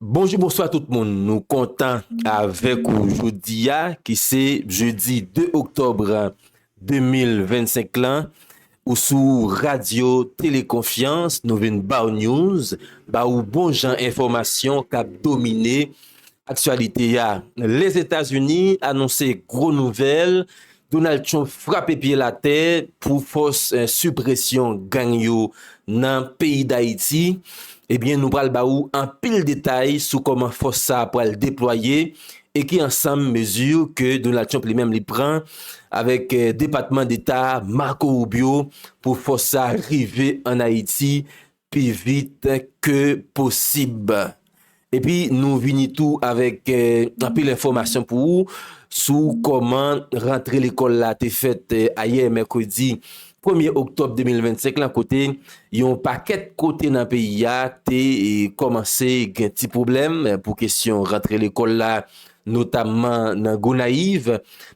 Bonjou bonswa tout moun nou kontan avèk ou jodi a ki se jeudi 2 octobre 2025 lan ou sou radio tele konfyans nou vin baw news ba ou bon jan enfòmasyon kap domine aktyalite a. Lèzetazini anonse gwo nouvèl Donald Trump frape pye l atè pou fòs sipresyon gang yo nan peyi Dayiti. Ebyen nou pral ba ou anpil detay sou kòman fòs sa pral deplwaye e ki ansanm mezi ke Donald Trump li menm li pran avèk Depatman Deta Marco Rubio pou fòs sa rive an Ayiti pi vit ke posib epi nou vini tou avèk anpil enfòmasyon pou ou sou kòman rantre lekòl la te fèt ayè mèkredi premye oktòb 2025 lan kote yon pakèt kote nan peyi a te kòmanse gen ti pwoblèm pou kesyon rantre lekòl la notamman nan Gonayiv,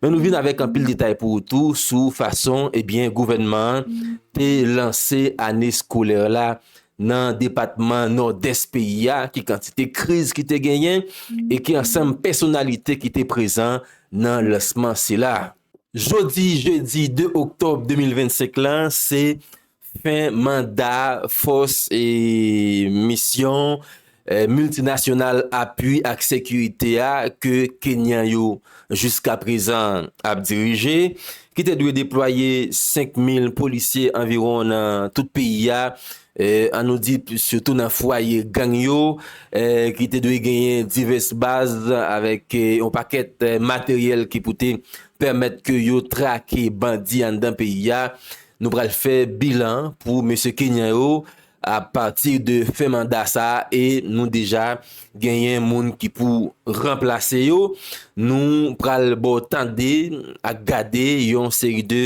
men nou vin avèk anpil detay pou ou tou sou fason ebyen eh gouvènman an te lanse ane skolè la nan depatman Nòdès peyi a, ki kantite kriz ki te genyen e ki ansanm pèsonalite ki te prezan nan lansman sila. Jodi jedi 2 oktòb 2025 la se Fen manda fòs e misyon miltinasyonal apui ak sekirite a ke Kenyan yo jiskaprezan ap dirije, ki te dwe deplwaye 5 mil polisye anviwon nan tout peyi a, an nou di sitou nan fwaye gang yo, ki te dwe genyen divès baz avèk yon pakèt materyèl ki pou te pèmèt ke yo trake bandi anndan peyi a, Nou pral fè bilan pou mesye Kenyan yo a pati de fen manda sa a e nou deja genyen moun ki pou ranplase yo. Nou pral ba w tande ak gade yon seri de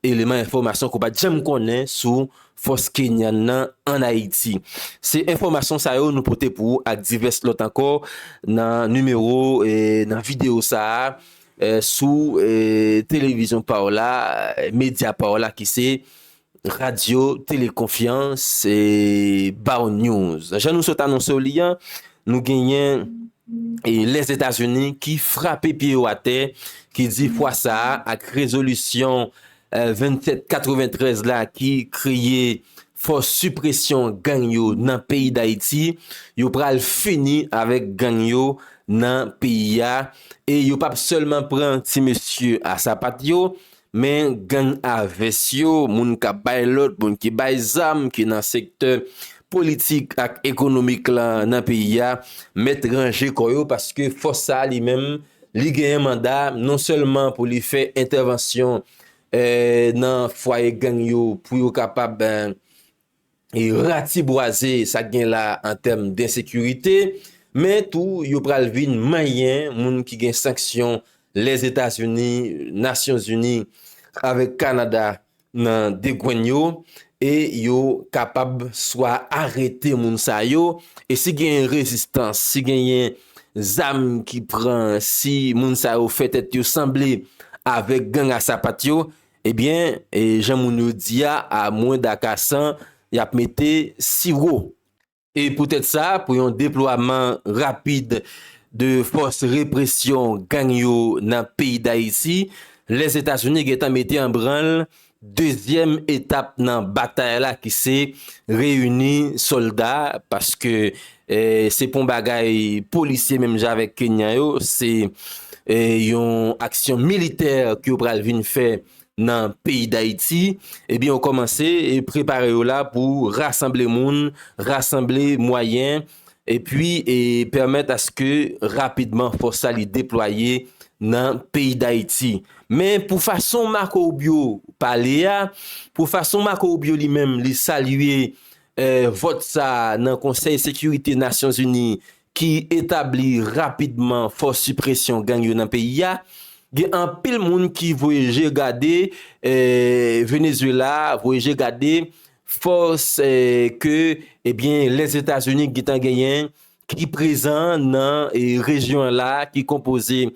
eleman enfòmasyon ke w pa t janm konnen sou fòs Kenyan nan ann Ayiti. Se enfòmasyon sa yo nou pote pou ou ak divès lòt ankò nan nimewo, nan videyo sa a. sou televizyon pa w la, medya pa w la ki se Radyo Tele Konfyans e Baw News. Jan nou sot anonse w li an, nou genyen Lèzetazini ki frape pye yo atè, ki di fwa sa a ak rezolisyon 27 93 la ki kreye fòs sipresyon gang yo nan peyi dayiti yo pral fini avèk gang yo nan peyi a e yo pap sèlman pran ti mesye a sapat yo men gang a vès yo moun kap bay lòd moun ki bay zam ki nan sektè politik ak ekonomik lan nan peyi a mèt ranje kò yo paske fòs sa li menm Li genyen manda non sèlman pou li fè entèvansyon nan fwaye gang yo pou yo kapab ratibwaze sa gen la an tèm densekirite, men tou yo pral vin manyen moun ki gen sanksyon Lèzetazini, Nasyonzini avèk Kanada nan degwenn yo e yo kapab swa arete moun sa yo e si genyen rezistans, si genyen zam ki pran, si moun sa yo fè tèt yo sanble avèk gang a sapat yo, ebyen jan moun yo di a, a mwen da kasan, y ap mete siwo. E poutèt sa, pou yon deplwaman rapid de fòs represyon gang yo nan peyi Dayiti, Lèzetazini gen tan mete an branl dezyèm etap nan batay la ki se reyini sòlda paske se pa yon bagay polisye menm jan avèk Kenyan yo, se yon aksyon militè ke yo pral vin fè nan peyi Dayiti, ebyen yo kòmanse prepare yo la pou rasanble moun, rasanble mwayen, epi pèmèt aske rapidman fòs la li deplwaye nan peyi Dayiti. Men pou fason Marco Rubio pale a, pou fason Marco Rubio li menm li salye vòt sa nan konsèy sekirite Nasyonzini ki etabli rapidman fòs sipresyon gang yo nan peyi a, gen anpil moun ki voye je gade Venezuela, voye je gade fòs ke ebyen Lèzetazini gentan genyen ki prezan nan rejyon la ki konpoze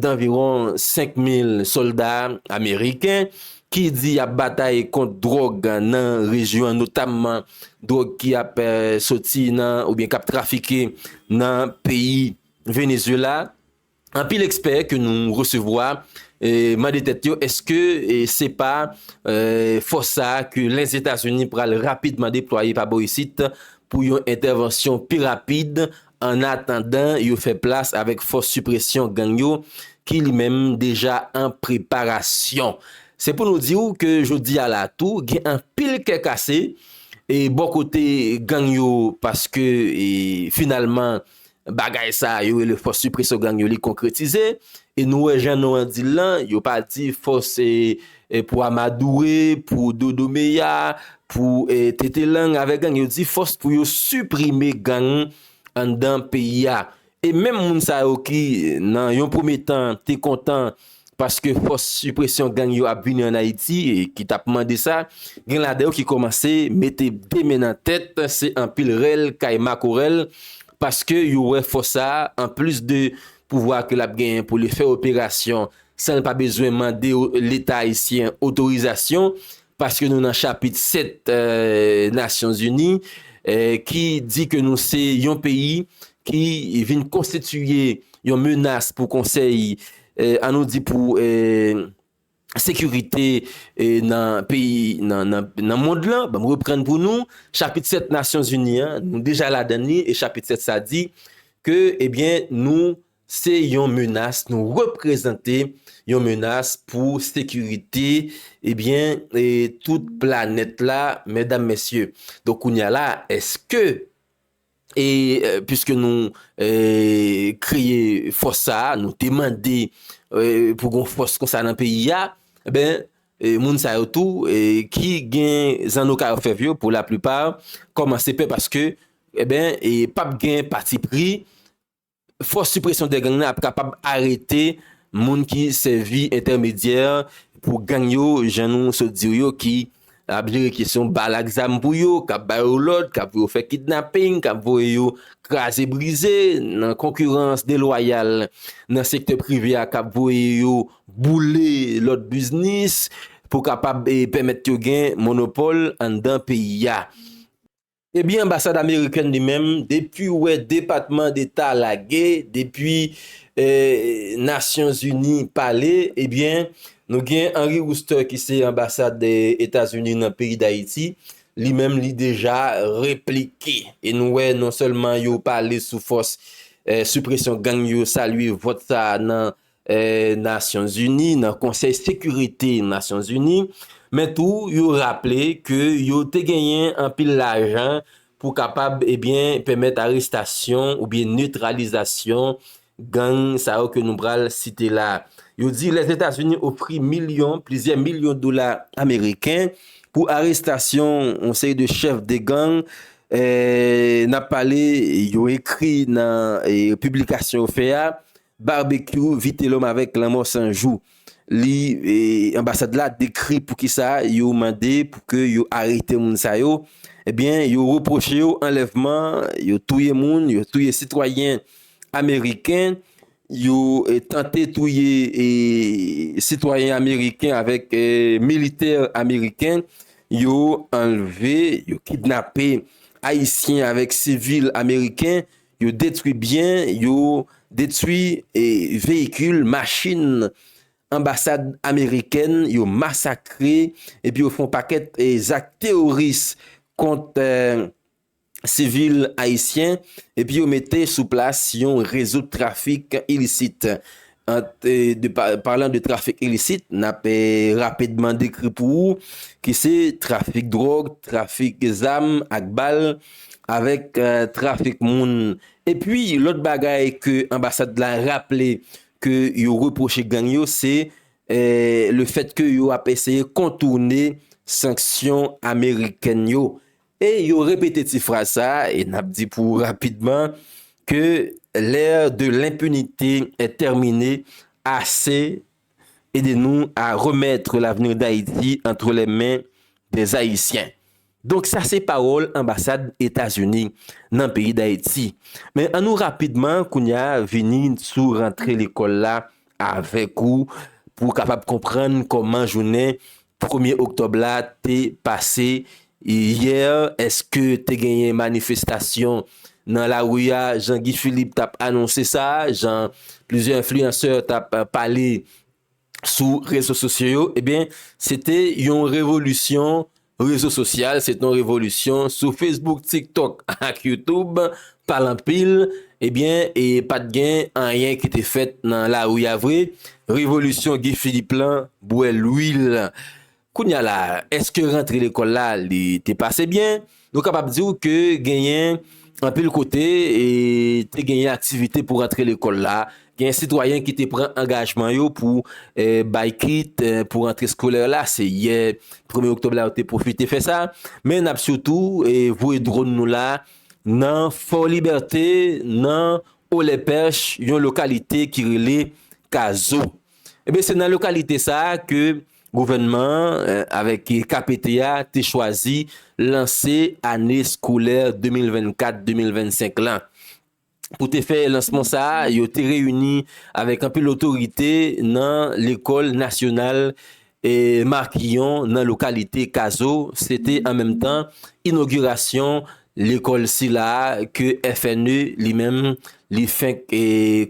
danviron 5 mil sòlda ameriken. ki di yap batay kont dròg nan rejyon an notamman dròg ki ap soti nan oubyen kap trafike nan peyi Venezuela, anpil ekspè ke nou resevwa mande tèt yo eske se pa fòs sa ke Lèzetazini pral rapidman deplwaye pa bò isit pou yon entèvansyon pi rapid Annatandan yo fè plas avèk fòs sipresyon gang yo ki li menm deja an preparasyon. Se pou nou di w ke jodi a la tou gen anpil kè kase e bò kote gang yo paske finalman bagay sa yo rele fòs sipresyon gang yo li konkretize e nou wè jan non an di l lan yo pa di fòs Pou Amadoure, pou Dodo Meya, pou Tete Lang avèk gang yo di fòs pou yo siprime gang anndan peyi a. E menm moun sa yo ki nan yon premye tan te kontan paske fòs sipresyon gang yo ap vini ann Ayiti e ki t ap mande sa, gen ladan yo ki kòmanse mete 2 men nan tèt, se anpil rèl kay makorèl paske yo wè fòs sa a anplis de pouvwa ke l ap genyen pou li fè operasyon san l pa bezwen mande leta ayisyen otorizasyon, paske nou nan chapit 7 Nasyon Zini ki di ke nou se yon peyi ki vin konstitiye yon menas pou konsèy, an nou di pou sekirite nan peyi, nan mond lan, banm reprann pou nou, chapit 7 Nasyon Zini an, nou deja ladan li, e chapit 7 sa di ke, ebyen, nou Se yon menas nou reprezante, yon menas pou sekirite, ebyen, e tout planèt la, mèdam, mèsye. Donk kounye a la, èske, e, piske nou, e, kreye fòs sa a, nou te mande, e, pou gon fòs konsa nan peyi a, enben, e, moun sa yo tou, e, ki gen zanno kay òfèv yo, pou laplipa, kòmanse pè paske, enben, e, pap gen patipri. Fòs Sipresyon dè Gang nan ap kapab arete moun ki sèvi entèmedyè pou gang yo, jan nou sot di w yo, ki ap jere kesyon bal ak zam pou yo, k ap ba yo lòd, k ap voye yo fè kidnaping, k ap voye yo kraze brize nan konkirans delwayal nan sektè prive a, k ap voye yo boule lòt biznis pou kapab pèmèt yo gen monopòl anndan peyi a. Ebyen anbasad amerikèn li menm depiw wè depatman deta lage depi nasyonzini pale ebyen nou gen Henry Wooster ki se anbasad etazini nan peyi dayiti li menm li deja replike e nou wè non sèlman yo pale sou fòs sipresyon gang yo salye vòt sa nan Nasyon Zini, nan Konsèy Sekirite Nasyon Zini, men tou yo raple ke yo te genyen anpil lajan pou kapab ebyen pèmèt arestasyon oubyen netralizasyon gang sa yo ke nou pral site la. Yo di Lèzetazini ofri milyon, plizyè milyon dola ameriken pou arestasyon yon seri de chèf de gang nap pale yo ekri nan piblikasyon yo fè a, Barbecue Vitelhomme avèk lanmò 100 jou li anbasad la dekri poukisa yo mande pou ke yo arete moun sa yo ebyen yo repwoche yo anlèvman yo touye moun yo touye sitwayen ameriken yo tante touye sitwayen ameriken avèk militè ameriken yo anlve yo kidnape ayisyen avèk sivil ameriken Yo detwi byen, yo detwi veyikil, machin anbasad amerikèn, yo masakre epi yo fè yon pakèt zak teworis kont sivil ayisyen epi yo mete sou plas yon rezo trafik ilisit. Parlan de trafik ilisit, n ap rapidman dekri pou ou ki se trafik dwòg, trafik zam ak bal, avèk trafik moun. Epi lòt bagay ke anbasad la raple ke yo repwoche gang yo se le fèt ke yo ap eseye kontourne sanksyon amerikèn yo. E yo repete ti fraz sa a, e n ap di pou ou rapidman, Que l'ère de l'impunité est terminée, AC, Aidez-nous à remettre l'avenir d'Haïti entre les mains des Haïtiens. Donk sa se pawòl anbasad Etazini nan peyi Dayiti. Men an nou rapidman kounye a vini sou rantre lekòl la avèk ou pou w kapab konprann kòman jounen premye oktòb la te pase yè, èske te genyen manifestasyon nan lari a jan Guy Philippe t ap anonse sa, jan plizyè enfliyansè t ap pale sou rezo sosyo yo, ebyen se te yon revolisyon Rezo sosyal se ton revolisyon sou Facebook tiktok ak youtoub pale anpil ebyen e pat gen anyen ki te fèt nan lari a vre revolisyon Guy Philippe lan bwè lwil kounya la eske rantre lekòl la li te pase byen nou kapab di w ke genyen anpil kote e te genyen aktivite pou rantre lekòl la Gen sitwayen ki te pran angajman yo pou bay kit pou rantre skolè la, se yè premye oktòb la yo te pwofite fè sa, men n ap sitou voye dronn nou la nan Fò Libète nan Olèpèch yon lokalite ki rele Kazo. Ebyen se nan lokalite sa a ke gouvènman an avèk KPT a te chwazi lanse ane skolè 2024, 2025 lan. Pou te fè lansman sa a, yo te reyini avèk anpil otorite nan lekòl nasyonal Marquillon nan lokalite Kazo. Se te an menm tan inogirasyon lekòl sila a ke FNE li menm li fenk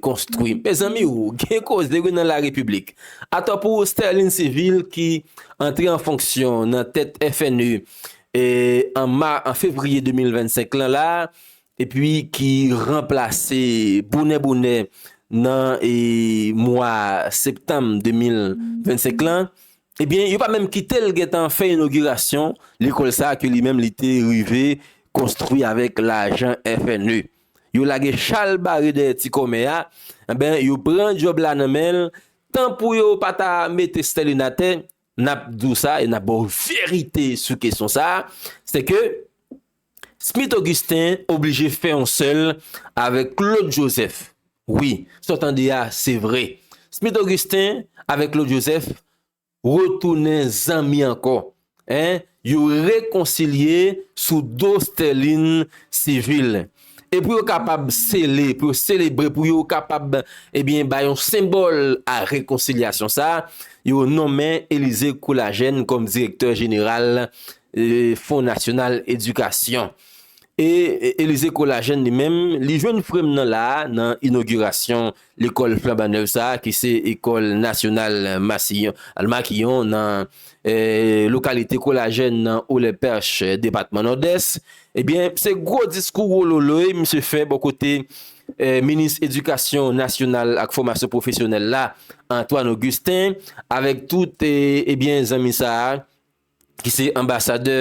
konstwi. Mezanmi o! Gen koze wi nan larepiblik. Atò pou Sterline Civil ki antre an fonksyon nan tèt FNE an fevriye 2025 lan la, epi ki ranplase bonè bonè nan mwa septanm 2025 lan, ebyen yo pa menm kite l gen tan fè inogirasyon lekòl sa ke li menm li te rive konstwi avèk lajan FNE. Yo lage chal bare dèyè ti kòmè a, enben yo pran djòb la nan men l, tan pou yo pa ta mete Sterlin atè, n ap di w sa e n ap ba w verite sou kesyon sa, se ke. Smith Augustin oblije fè yon sèl avèk Claude Joseph. Wi, sa w tande a, se vre. Smith Augustin avèk Claude Joseph retounen zanmi ankò. Hein, yo rekonsilye sou do Sterlin Civil. E pou yo kapab sele, pou yo selebre, pou yo kapab, ebyen, bay yon senbòl a rekonsilyasyon sa, yo nonmen Élisée Courlagène kòm direktè jeneral Fon Nasyonal Edikasyon. E Elize Kolajèn li menm, li jwenn frè m nan la a nan inogirasyon lekòl flanban nèv sa a ki se Ecole Nationale Massillon, Makiyon, nan lokalite Kolajèn nan Olepèch, depatman Nòdès. Ebyen, se gwo diskou wololoy misye fè bò kote minis edikasyon nasyonal ak fòmasyon pwofesyonèl la, Antoine Augustin, avèk tout ebyen zanmi sa a. ki se anbasadè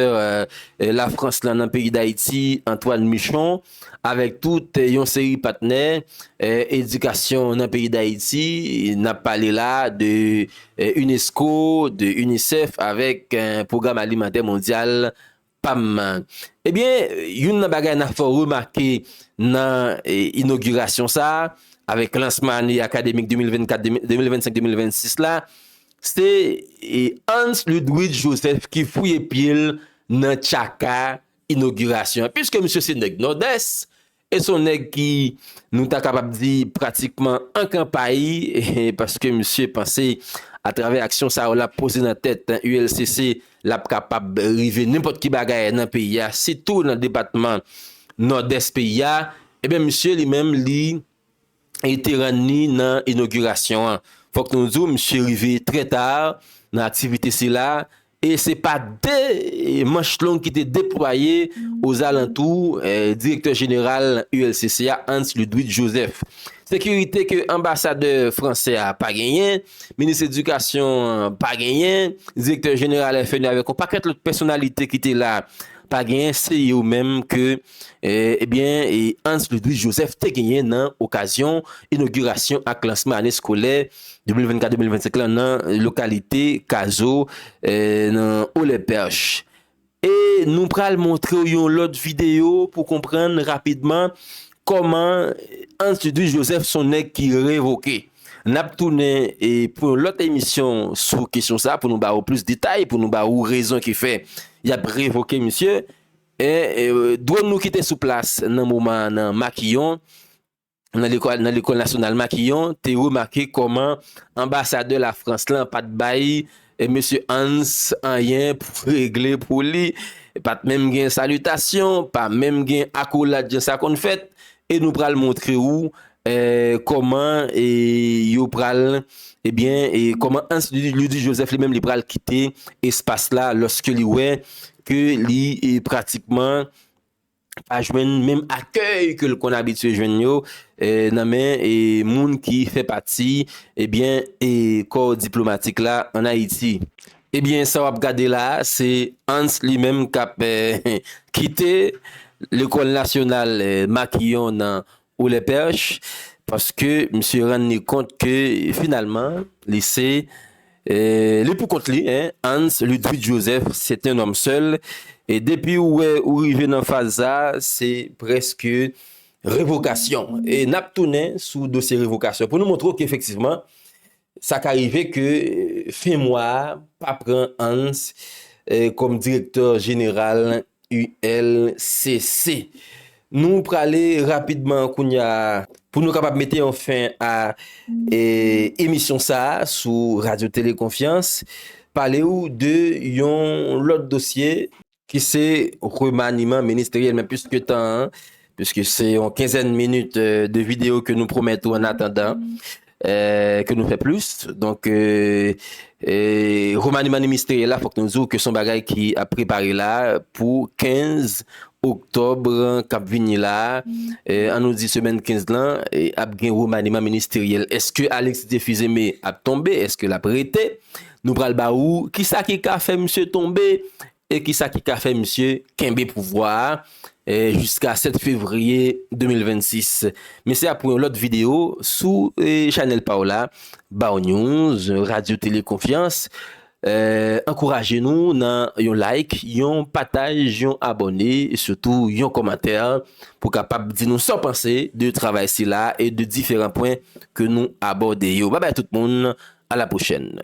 Lafrans lan nan peyi Dayiti, Antoine Michon, avèk tout yon seri patnè edikasyon nan peyi Dayiti, n ap pale la de unesco, de UNICEF avèk Pwogram Alimantè Mondyal, pam nan. Ebyen, youn nan bagay n ap fè w remake nan inogirasyon sa a, avèk lansman ane akademik 2024, 2025, 2026 la, Se Hans Ludwig Joseph ki fouye pye l nan tchaka inogirasyon an. Piske misye se nèg Nòdès, e se yon nèg ki nou ta kapab di pratikman an kanpay, paske misye panse atravè aksyon sa yo l ap poze nan tèt ULCC, l ap kapab rive nenpòt ki bagay nan peyi a, sitou nan depatman Nòdès peyi a, e byen misye li menm li. e te rann ni nan inogirasyon an. Fòk nou di w misye rive trè ta nan aktivite sila e se pa de manch long ki te deplwaye ozalantou direktè jeneral ULCC a Hans Ludwig Joseph. Sekirite ke anbasadè fransè a pa genyen, minis edikasyon an pa genyen, direktè jeneral FNU avèk yon pakèt lòt pèsonalite ki te la pa genyen se yo menm ke Ebyen Hans Ludwig Joseph te genyen nan okazyon inogirasyon ak lansman ane skolè 2024, 2025 la nan lokalite Kazo nan Haut les Perches. E nou pral montrew yon lòt videyo pou konprann rapidman kòman Hans Ludwig Joseph son nèg ki revoke. Nap tounen pou yon lòt emisyon sou kesyon sa pou nou ba ou plis detay, pou nou ba ou rezon ki fè yap revoke misye. Dwòn nou ki te sou plas nan moman an nan Makiyon, nan lekòl nasyonal Makiyon, te remake kòman anbasadè Lafrans lan pa t bay mesye Hans anyen pou regle pou li, pa t menm gen salitasyon, pa menm gen akolad jan sa konn fèt, E nou pral montre ou kòman yo pral, ebyen, kòman Hans Ludwig Joseph li menm li pral kite espas la lòske li wè ke li pratikman pa jwenn menm akèy ke l konn abitye jwenn yo nan men moun ki fè pati, ebyen, kò diplomatik la an Ayiti. Ebyen sa wap gade la se Hans li menm kap kite lekòl nasyonal Makiyon nan Ou lè pèch paske misye rann li kont ke finalman li se li pou kont li Hans Ludwig Joseph c'est un homme seul e depi ou wè ou rive nan faz sa se prèske revokasyon e nap tounen sou dosye revokasyon pou nou montre w ke efektivman Sa ka rive ke fen mwa a pa pran Hans kòm direktè jeneral ULCC. Nou prale rapidman kounya pou nou kapab mete yon fen a emisyon sa a sou Radyo Tele Konfyans, pale ou de yon lòt dosye. ki se remaniman ministeryèl men pwiske tan an, pwiske se yon kenzèn minit de videyo ke nou pwomèt ou an atandan ke nou fè plis, donk remaniman ministeryèl la fòk nou di ou ke son bagay ki ap prepare la pou 15 oktòb kap vini la an nou di semèn 15 lan ap gen remaniman ministeryèl, eske Alexis Théphuzeme ap tonbe, eske lap rete? Nou pral ba ou kisa ki ka fè misye tonbe e kisa ki ka fè misye kenbe pouvwa a jiska 7 fevriye 2026. Men se ap pou yon lòt videyo sou chanèl pa w la, Bawnews, Radyo Tele Konfyans. Ankouraje nou nan yon like, yon pataj, yon abòne, sitou yon kòmantè pou kapab di nou sa w panse de travay sila e de diferan pwen ke nou abòde yo. Babay tout moun, alapwochèn.